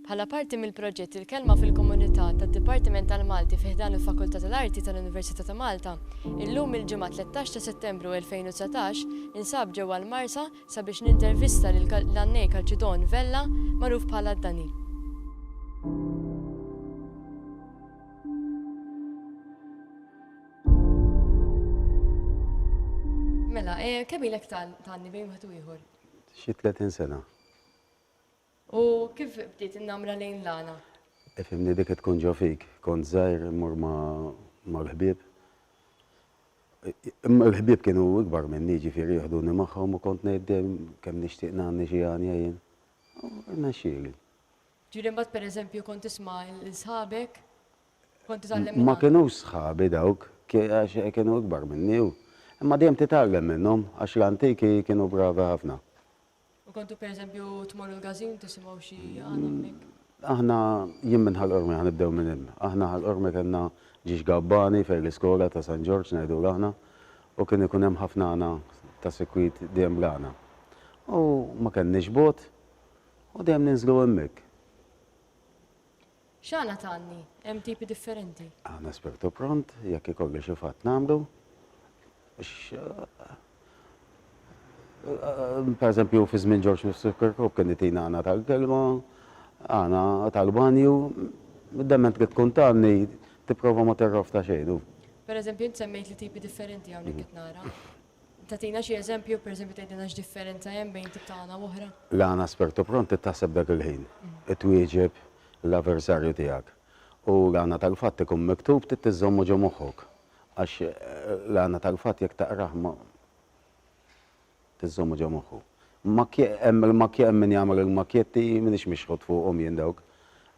Bħala parti mill-proġett Il-Kelma fil-Komunità tad-Dipartiment tal-Malti fi ħdan il-Fakultà tal-Arti tal-Università ta' Malta, illum il-Ġimgħa 13 ta' Settembru 2019 ninsab ġewwa l-Marsa sabiex nintervista lil l-għannej Calcidon Vella magħruf bħala Dani. Mela, eh, kemm ilek tanni bejn wieħed u ieħor? Xi 30 sena. U kif bdiet innamra lejn l-għana? Ifimni e, dik tkun ġo fik, kont żgħir immur mal-ħbieb. Imma l-ħbieb kienu ikbar minni ġifieri jieħduni magħhom u kont ngħid dejjem kemm nixtieq nagħni xi għanja jien. Irnexxieli. Ġieli mbagħad pereżempju kont tisma' l-sħabek Kont titgħallem minn Ma hawn. kinux sħabi dawk, ki-, għax kienu ikbar minni u. Imma dejjem titgħallem minnhom, għax l-antiki kienu bravi ħafna. U kontu per eżempju tmorru l-Gazin tisimgħu xi għan hemmhekk? Aħna, jien minn Ħal Qormi, ħa nibdew minn hemm. Aħna Ħal Qormi kellna ġiex gabbani fejn l-iskola ta' San Ġorġ ngħidulu aħna, u kien ikun hemm ħafna għana ta' sikwit dejjem bl-għana. U ma kellniex bogħod, u dejjem ninżlu hemmhekk. X'għana t'għanni? Hemm tipi differenti. Għana spirtu pront, jekk ikollu xi fatt nagħmlu. Per eżempju, fi żmien Ġorġ Nifsu Kirkhope kien itina għana tal-kelma, għana tal-banju, dement trid tkun t'għanni tipprova ma tirrofta xejn. Per eżempju, int semmejt li tipi differenti hawnhekk qed nara. Tagħtina xi eżempju, pereżempju tgħidilna x'differenza hemm bejn tip ta' għana u oħra? L-għana aspetto pronto taħseb dak il-ħin, twieġeb l-aversarju tiegħek. U l-għana tal-fatt ikun miktub trid iżżommu ġo moħħok. Għax l-għana tal-fatt jekk taqrah ma tiżżommu ġo moħħu. Makkje, hemm il-makkje hemm min jagħmel il-makkjetti, m'iniex mixħut fuqhom jien dawk.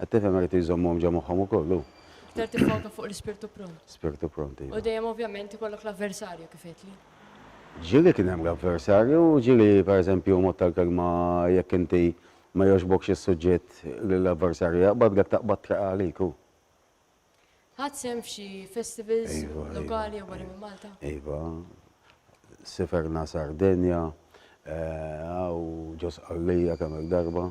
Qed tifhem hekk irid iżommhom ġo moħħhom ukoll hu. Iktar tiffoka fuq l-ispirtu pront. Spirtu pront, iva. U dejjem ovvjament ikollok l-avversarju kif għedtli. Ġieli kien hemm l-avversarju, ġieli pereżempju mod tal-kelma jekk inti ma jogħġbokx is-suġġett li l-avversarju jaqbad, jekk taqbad treqqa' għalik hu. Ħadd sehem f'xi festivals lokali jew barra minn Malta? Iva, siferna Sardenja, hawn ġo Sqallija kemm-il darba.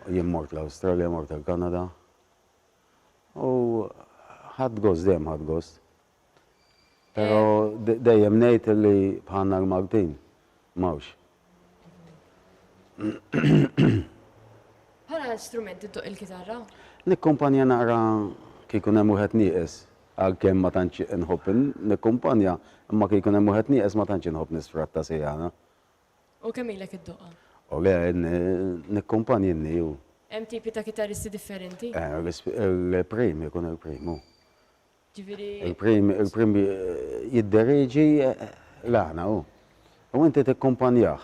Jien mort l-Awstralja, mort il-Kanada. U ħadt gost, dejjem ħadt gost. Pero dejjem ngħid li bħalna l-Maltin m'hawnx. Bħala strument iddoqq il-kitarra? Nikkumpanja naqra kif ikun hemm wieħed nieqes, għalkemm ma tantx inħobb nikkumpanja, imma kif ikun hemm wieħed nieqes ma tantx inħobb nisfratta sejana. U kemm ilek iddoqqa? O le, nikkumpanja inni u. Hemm tipi ta' kitarristi differenti? Eh, il-prim ikun il-prim hu. Ġifieri. Il-prim, il-prim jidderieġi l-għana hu. U inti tikkumpanjah.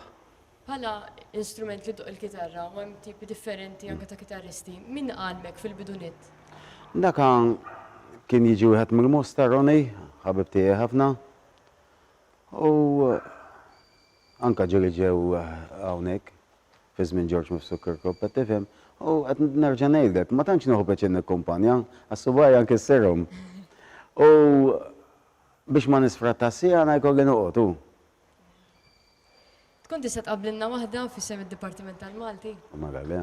Bħala instrument li ddoqq il-kitarra, u hemm tipi differenti anke ta' kitarristi, min għallmek fil-bidu nett? Dak kien jiġi wieħed mill-Mosta, Ronnie, ħabib tiegħi ħafna. U Anke ġieli ġew hawnhekk fi żmien George Mifsud Kirkop, qed tifhem? U qed nerġa' ngħidlek, ma tantx nieħu pjaċir nikkumpanja, għax subgħajja nkissirhom. U biex ma nisfrattax siegħa ngħid kolli noqgħod, hu. Tkun tista' tqabblilna waħda f'isem id-Dipartiment tal-Malti? Magħha le.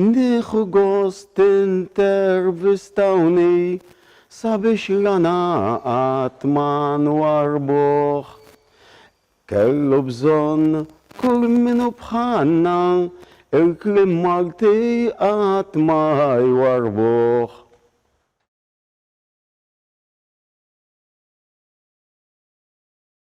Nieħu gost tintervistawni sabiex rana qatt ma nwarrbuh. Kellu bżonn kull min hu bħalna, il-kliem Malti qatt ma jwarrbuh.